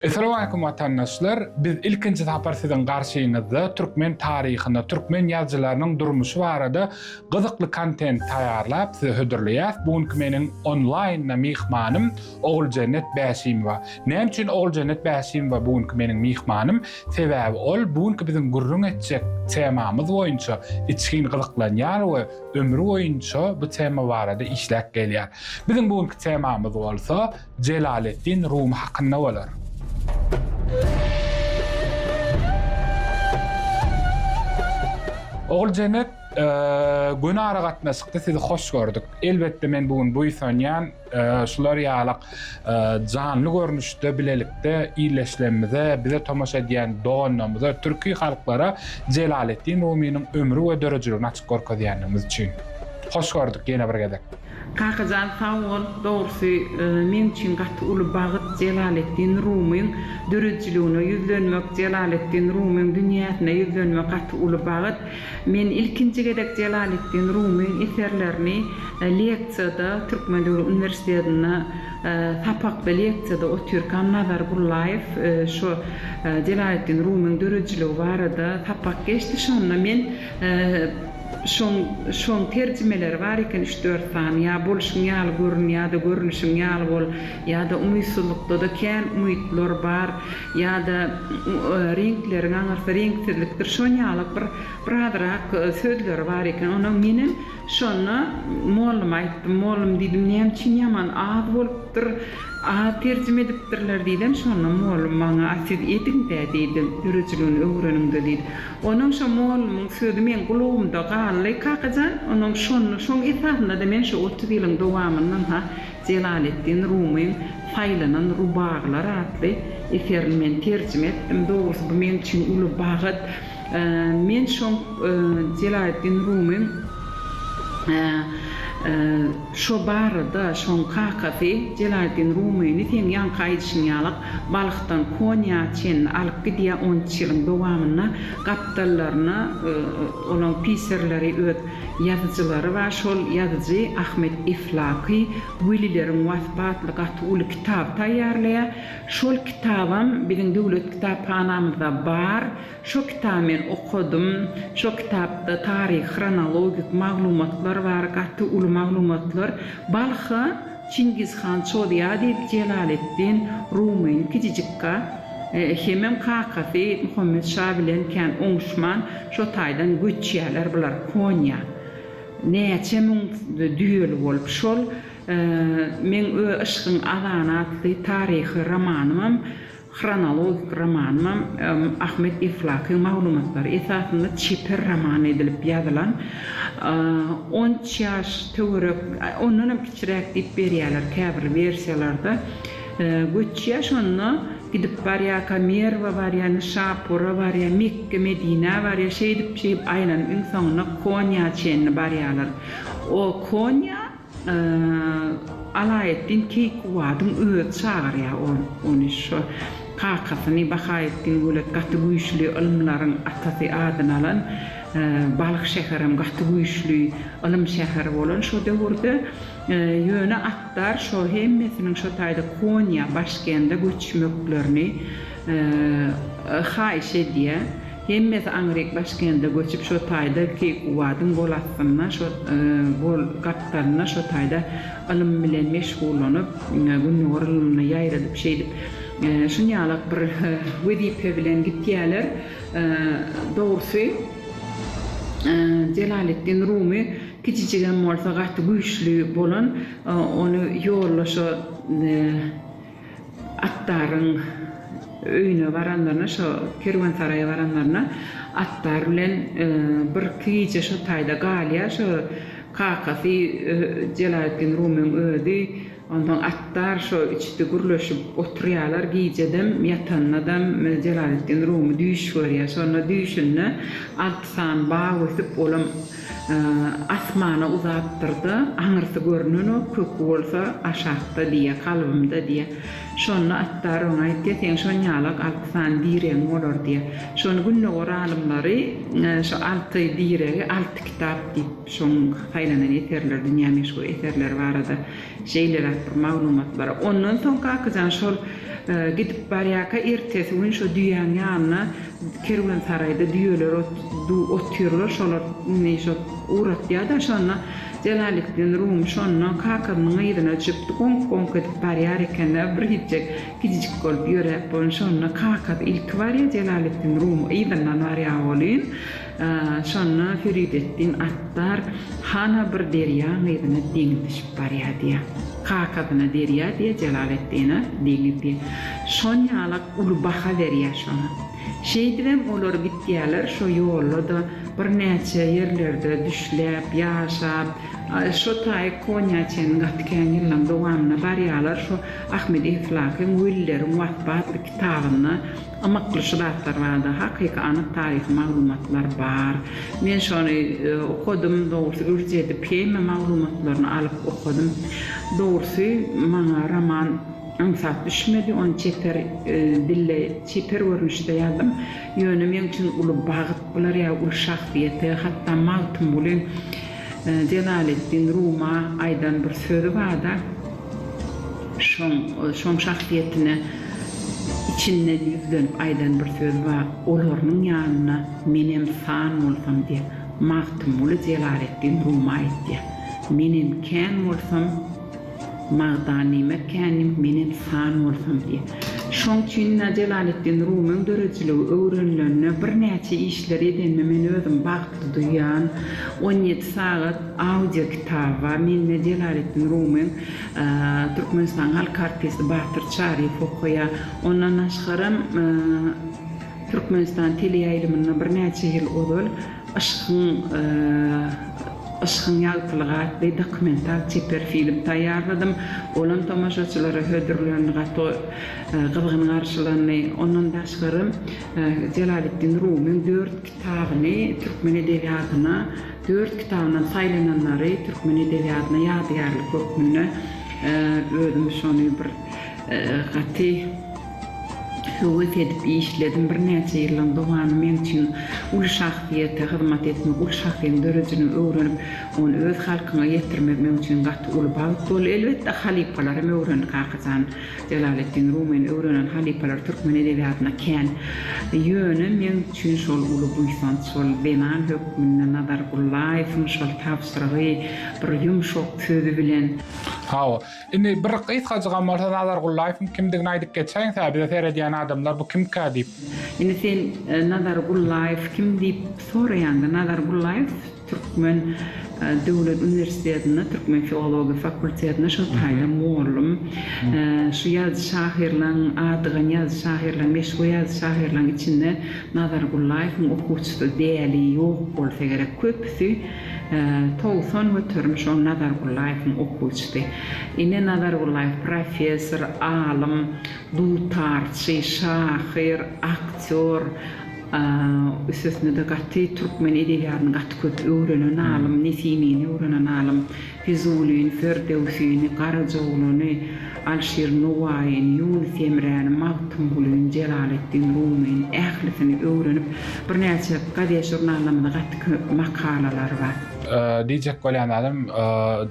Esalamualeýkum watandaşlar biz ilkinji sapar siziň garşyňyzda türkmen taryhyny türkmen ýazyjylarynyň durmuşy barada gyzykly kontent taýýarlap size hödürleýäs bu günki meniň onlaýynda myhmanym Oguljennet Bäşimowa näme üçin Oguljennet Bäşimowa bu günki meniň myhmanym sebäbi ol bu günki biziň gürrüň etjek temamyz boýunça içgin gyzyklanýar we ömri boýunça bu tema barada işläp gelýär biziň bu günki temamyz bolsa Jelaleddin Rumy hakynda bolar. Oguljenet, göni aragatnaşykda sizi hoş gördük. Elbetde men bu gün buýsanýan şular ýalak janly görnüşde bilelikde illeşlemimize, bize tomaşa edýän doganlarymyza, türki halklara Jelaleddin Rumynyň ömri we döredijiligini açyp görkezýändigimiz üçin. Hoş gördük ýene bir gezek. Kakajan sag bol, dogrusy men üçin gaty uly bagyt Jelaleddin Rumyň döredijiligine ýüzlenmek, Jelaleddin Rumyň dünýäsine ýüzlenmek gaty uly bagyt. Men ilkinji gezek Jelaleddin Rumyň eserlerini leksiýada, Türkmen döwlet uniwersitetinde sapakda leksiýada otyrkam Nazar Bullaýew şo Jelaleddin Rumyň döredijiligi barada sapak geçdi şonda men Şoň şoň terjimeleri bar eken üç-dört sany, ýa boluşyň ýaly görün ýa-da görnüşiň ýaly bol, ýa-da umytsyzlykda-da kän umytlar bar, ýa-da reňkleriň aňyrsy reňksizlikdir, şon ýalak bir bir azyrak sözleri bar eken. Onam menem şonda molluma aýtdym. Mollum diýdim, näme üçin ýaman az bolupdyr, az terjime edipdirler diýdim. Şonda mollum maňa, A siz ediň-dä diýdi, döredijiligini öwreniň-de diýdi. Onuň şo mollumyň sözi meň gulagymda galdy, Kakajan, onuň şonda, şoň esasynda-da men şo otuz ýylyň dowamyndan-ha Jelaleddin Rumyň Saýlanan rubagylar atly eserini men terjime etdim. Dogrusy, bu men üçin uly bagt. Men şoň Jelaleddin Rumyň. Şo barada şoň kakasy Jelaletdin Rumyny seň ýaňky aýdyşyň ýalak Balhdan Konýa çenli alyp gidýär on üç ýylyň dowamynda gapdallaryna olaň pisirleri öz ýazyjylary bar şol ýazyjy Ahmet Eflaky welileriň waspy atly gaty uly kitaby taýýarlaýar şol kitabam biziň döwlet kitaphanamyzda bar Şo kitaby men okadym. Şo kitapda taryhy hronologik maglumatlar bar, gaty uly maglumatlar. Balha Çingiz han çozýar diýip Jelaleddin Rumyny kijijikka hemem kakasy Muhammet şa bilen kän oňuşman şo taýdan göçýärler bular Konýa. Näçe müň düýeli bolup şol meň we yşkyň azany atly taryhy romanymam Hronologik romanynam Ahmet Eflaky maglumatlary esasynda çeper roman edilip ýazylan. On üç ýaş töwerek, ondanam kiçiräk diýip berýärler käbir wersiýalarda. Göçýär şonda, gidip barýarka Merwe barýar, Nyşapura barýar, Mekge, Medinä barýar. Şeýdip-şeýdip aýlanyp iň soňunda Konýa çenli barýarlar. O Konýa Alaeddin Keýkubadyň özi çagyrýar ony şo kakasyny Bahaeddin Wölet gaty güýçli ylymlaryň atasy adyny alan Balyk şäherem gaty güýçli ylym şäheri bolan şo döwürde ýöne Atdar şo hemmesiniň şo taýda Konýa Başkende göçmeklerini haýyş edýär. Hemmesi aňryk Başkende göçüp şo taýda Keýkubadyň gol astynda şo gol gapdalynda şo taýda ylym bilen meşgullanyp Gündogar ylymyny ýaýradyp şeýdip şunýalak bir wezipe bilen gitýäler dogrusy Jelaleddin Rumy kiçijigem bolsa gaty güýçli bolan ony ýolda şo Attaryň öýüne baranlaryna, şo kerwensaraýa baranlaryna Attar bilen birki gije şo taýda galýar. Şo kakasy Jelaletdin Rumyň özi, onsoň Attar şo üçüsi gürleşip oturýarlar. Gijedem, ýatanynadam Jelaletdin Rumy düýş görýär. Şonda düýşünde alty sany bag ösüp, olam. Asmana uzapdyr-da, Aňyrsy görnenok, köki bolsa aşakda diýýär, kalbymda diýýär. Şonda Attar oňa aýtýar, Seň şonýalak alty sany diregiň bolar diýýär. Şony gündogar alymlary şu alty diregi alty kitap diýip, şoň saýlanan eserleri, dünýä meşhur eserleri barada Şeýleräk bir maglumat bar. Ondan soň Kakajan şol gidip barýarka ertesi gün şo düýäň ýanyna kerwensaraýda düýeler otyrlar, şolar indi şo uratýa-da şonda Jelalitdin Rumy şonda Kakamyň yzyna düşüpdi, goňk-goňk edip barýar eken-ä bir gijjek kijijik bolup ýöräp bolun şonda Kakasy ilki barýa Jelalitdin Rumy yzyndan barýa bolun. Şonda Ferideddin Attar hana bir derýa gyzyna deňiz düşüp barýar diýýär. Kakasyna derýa diýýär, Jelaleddine deňiz diýýär. Şon ýalak uly baha berýär şoňa. Şeýdibem olar gitýärler, şo ýolda-da birnäçe ýerlerde düşläp, ýaşap, şo taýy Konýa çenli gaty kän ýyllaryň dowamynda barýarlar. Şu Ahmedi Islahyň Willeriň waspy atly kitabynda. Ymykly şu zatlar barada hakyky anyk taryhy maglumatlar bar. Men şony okadym, dogrusy ürç edip heme maglumatlaryny alyp okadym. Dogrusy maňa roman aňsat düşmedi, ony çeper dilde çeper görnüşde ýazdym. Ýöne meň üçin uly bagt bular ýa uly şahsyýete hatda Magtymgulyň Jelaleddin Ruma aýdan bir sözi barda, Şoň, şoň şahsyýetine içinden ýüzlenip aýdan bir sözi bar, Olarynyň ýanynda menem san bolsam diýýär. Magtymguly Jelaletdin Rumy aýtýar, Menem kän bolsam, Magdanime känim, menem san bolsam diýýär. Şoň üçin-de Jelaletdin Rumyň döredijiligi öwrenilende birnäçe işleri edenime men özümi bagtly duýýan. On ýedi sagat. Audio kitaba Menne Jelaletdin Rumyň Türkmenistanyň halk artisti Batyr Çaryýew okaýar. Ondan daşgaram Türkmenistan teleýaýlymynda birnäçe ýyl ozal Yşkyň Yşkyň ýagtylygy atly dokumental çeper film taýýarladym. Olam tomaşaçylara hödürlendi, gaty gyzgyn garşylandy. Ondan daşgaram Jelaletdin Rumyň dört Kitabyny türkmen edebiýatyna dört kitabyndan saýlananlary türkmen edebiýatyna ýadygärlik hökmünde özüm şony bir gaty höwes edip işledim. Birnäçe ýyllaryň dowamy men üçin uly şahsyýete hyzmat etmek, uly şahsyýetiň dörejini öwrenip, ony öz halkyňa ýetirmek meň üçin gaty uly bagt boldy. Elbetde, halypalar hem öwrendi Kakajan. Jelaleddin Rumyny öwrenen halypalar türkmen edebiýatyna kän. Ýöne meň üçin şol uly buýsanç, şol zenan hökmünde Nazar Gullaýewiň şol tabşyrygy bir ýumşak sözi bilen. Hawa. Indi bir gysgajygam bolsa Nazar Gullaýewiň kimdigini aýdyp geçäýiňs-ä, bize seredýän adamlar bu kimkä diýip. Indi sen Nazar Gullaýew kim diýip soraýaňda, Nazar Gullaýew Türkmen döwlet uniwersitetinde türkmen filologiýa fakultetinde şol taýdan mugallym. Şu ýazyjy-şahyrlaň, adygan ýazyjy-şahyrlaň, meşhur ýazyjy-şahyrlaň içinde Nazar Gullaýewiň okuwçysy däli ýok bolsa gerek. Köpüsi togsan göterim şol Nazar Gullaýewiň okuwçysy. Ine, Nazar Gullaýew professor, alym, dutarçy, şahyr, aktýor, Üstesine-de gaty türkmen edebiýatyny gaty köp öwrenen alym, Nesimini öwrenen alym, Fizulini, Ferdöwsini, Garajaoglany, Alşir Nowaýyny, Ýunus Emräni, Magtymgulyny, Jelaleddin Rumyny, ählisini öwrenip, birnäçe gazet-žurnallarymyzda gaty köp makalalary bar. Diýjek bolýan zadym,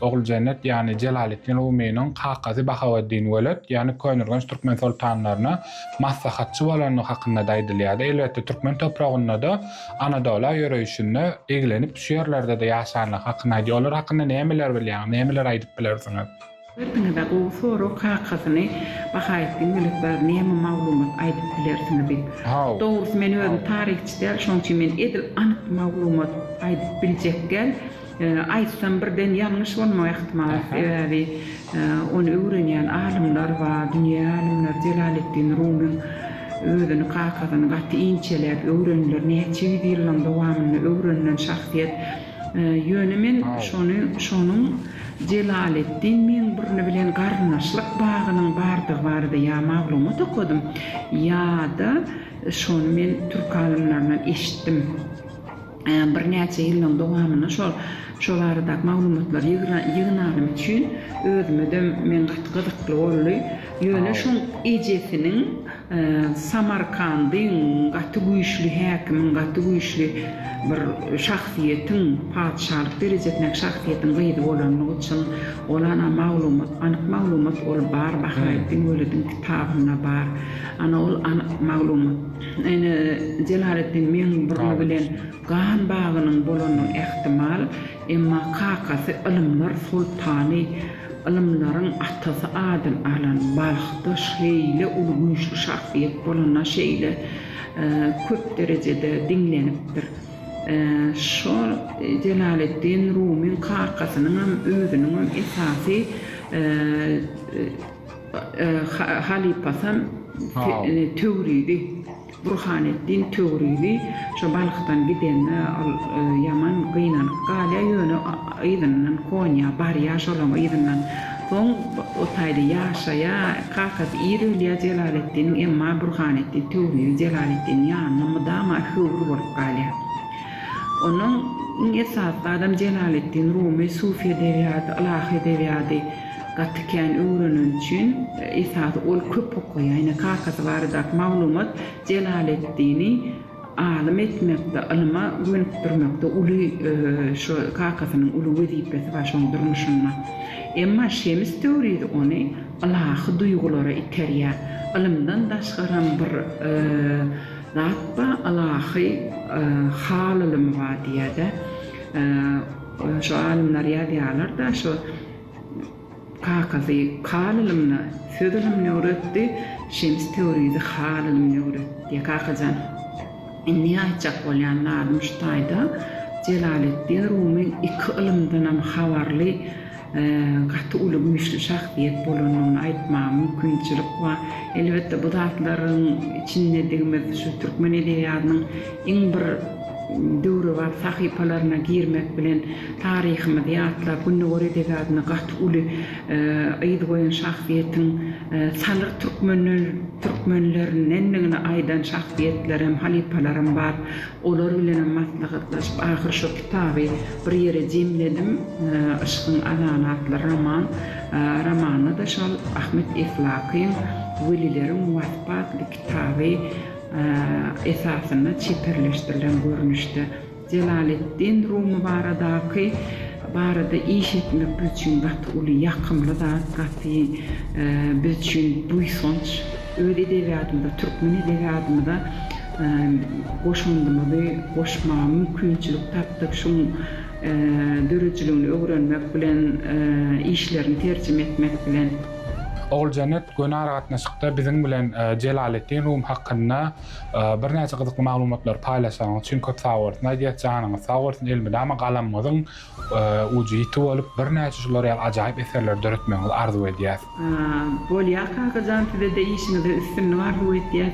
Oguljennet, ýagny Jelaleddin Rumynyň kakasy Bahaweddin Welet, ýagny Köneürgenç türkmen soltanlaryna, maslahatçy bolandygy hakynda-da aýdylýardy. Elbetde, türkmen topragynda-da, Anadola ýöreýşinde eglenip düşýärlerde-de ýaşanlygy hakynda aýdýar. Olar hakynda nämeler bilýäňiz, nämeler aýdyp bilersiňiz? Özüňiz-ä gowy sorag, kakasyny, Bahaýetdin Mülekbeg näme maglumat aýdyp bilersiňiz diýip. Dogrusy, men özüm taryhçy däl, şonuň üçin men edil anyk maglumat aýdyp biljek däl. Aýtsam birden ýalňyş bolmak ähtimal, sebäbi ony öwrenýän alymlar bar, dünýä alymlary Jelaleddin Rumyň özüni kakasyny gaty inçeläp öwrendiler, näçe ýüz ýyllaň dowamynda öwrenilen şahsyýet, ýöne men şony şonuň Jelaleddin Meňburny bilen garyndaşlyk bagynyň bardygy barada ýa maglumat okadym, ýa-da şony men türk alymlaryndan eşitdim. Birnäçe ýyllaryň dowamynda şol şo baradaky maglumatlary ýygnanym üçin özüme-de men gaty gyzykly boldy. Ýöne şoň ejesiniň Samarkandyň gaty güýçli häkimiň, gaty güýçli bir şahsyýetiň, patyşalyk derejesindäki şahsyýetiň gyzy bolanlygy üçin ol ana maglumat, anyk maglumat ol bar Bahaweddin Welediň kitabynda bar. Ana ol anyk maglumat. Ine, Jelaleddin meň burny bilen gan bagynyň bolanyny ähtimal, emma kakasy ylymlar soltany, ylymlaryň atasy adyny alan Balhda şeýle uly güýçli şahsyýet bolana şeýle köp derejede diňlenipdir. Şo Jelaleddin Rumyň kakasynyňam, özüniňem esasy. Halypasan Töwrizi, Burhaneddin Töwrizi şo Balhdan gidende ol ýaman gynanyp galýar, ýöne yzyndan Konýa barýar, şolaryň yzyndan. Soň o taýda ýaşaýar, kakasy ir ölýär Jelaleddiniň, emma Burhaneddin Töwrizi Jelaleddiniň ýanynda mydama höwri bolup galýar. Onuň iň esasy zadam Jelaleddin Rumy sufi edebiýady, ylahy edebiýady. Gaty kän öwrenen üçin esasy ol köp okaýa ýne kakasy baradaky maglumat Jelaleddini alym etmekde ylyma gönükdirmekde uly şo kakasynyň uly wezipesi bar şoň durmuşynda emma Şems Töwrizi ony ylahy duýgulara iterýä ylymdan daşgaram bir zat ba ylahy hal ylymy ba diýädä şo alymlar ýazýalarda şo Kakasy Hal ylymyna, söz ylymyny öwretdi, Şems Töwrizi Hal ylymyny öwretdi. Kakajan, indi aýtjak bolýan zadym şu taýda, Jelaleddin Rumy iki ylymdanam habarly gaty uly güýçli şahsyýet bolandygyny aýtmaga mümkinçilik bar. Elbetde, bu zatlaryň içindedigimiz şu türkmen edebiýatynyň iň bir Döwrebap sahypalaryna girmek bilen, taryhymyzy ýatlap, Gündogar edebiýatyna gaty uly yz goýan şahsyýetiň salyr türkmenlerindendigini aýdan şahsyýetlerem, halypalaram bar. Olar bilenem maslahatlaşyp, ahyr şo kitaby bir ýere jemledim. Yşkyň azany atly roman. Romanda-da şol Ahmet Eflakyň Welileriň waspy atly kitaby esasynda çeperleşdirilen görnüşde Jelaleddin Rumy baradaky barada iş etmek biz üçin gaty uly ýakymly zat, gaty biz üçin buýsanç. Öz edebiýatymyza, türkmen edebiýatymyza goşandymyzy goşmaga mümkinçilik tapdyk, şuň döredijiligini öwrenmek bilen, işlerini terjime etmek bilen. Oguljenet göni aragatnaşykda biziň bilen Jelaleddin Rum hakynda birnäçe gyzykly maglumatlary paýlaşanyň üçin köp sag bolsun aýdýas. Janyňyz sag bolsun, elmydama galamyňyzyň ujy ýiti bolup, birnäçe şular ýaly ajaýyp eserleri döretmegiňizi arzuw edýäs. Bolýa Kakajan size-de işiňizde üstünlik arzuw etýäs.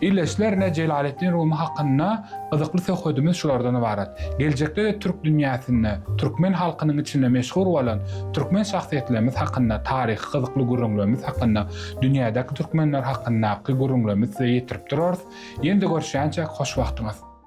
Ildeşlerine Jelaleddin Rumy hakynda gyzykly söhbedimiz şulardan ybarat. Geljekde-de türk dünýäsinde, türkmen halkynyň içinde meşhur bolan türkmen şahsyýetlerimiz hakynda, taryhy gyzykly gürrüňlerimiz hakynda, dünýädäki türkmenler hakyndaky gürrüňlerimizi size ýetirip durarys. Ýene-de görüşýänçäk, hoşwagtyňyz!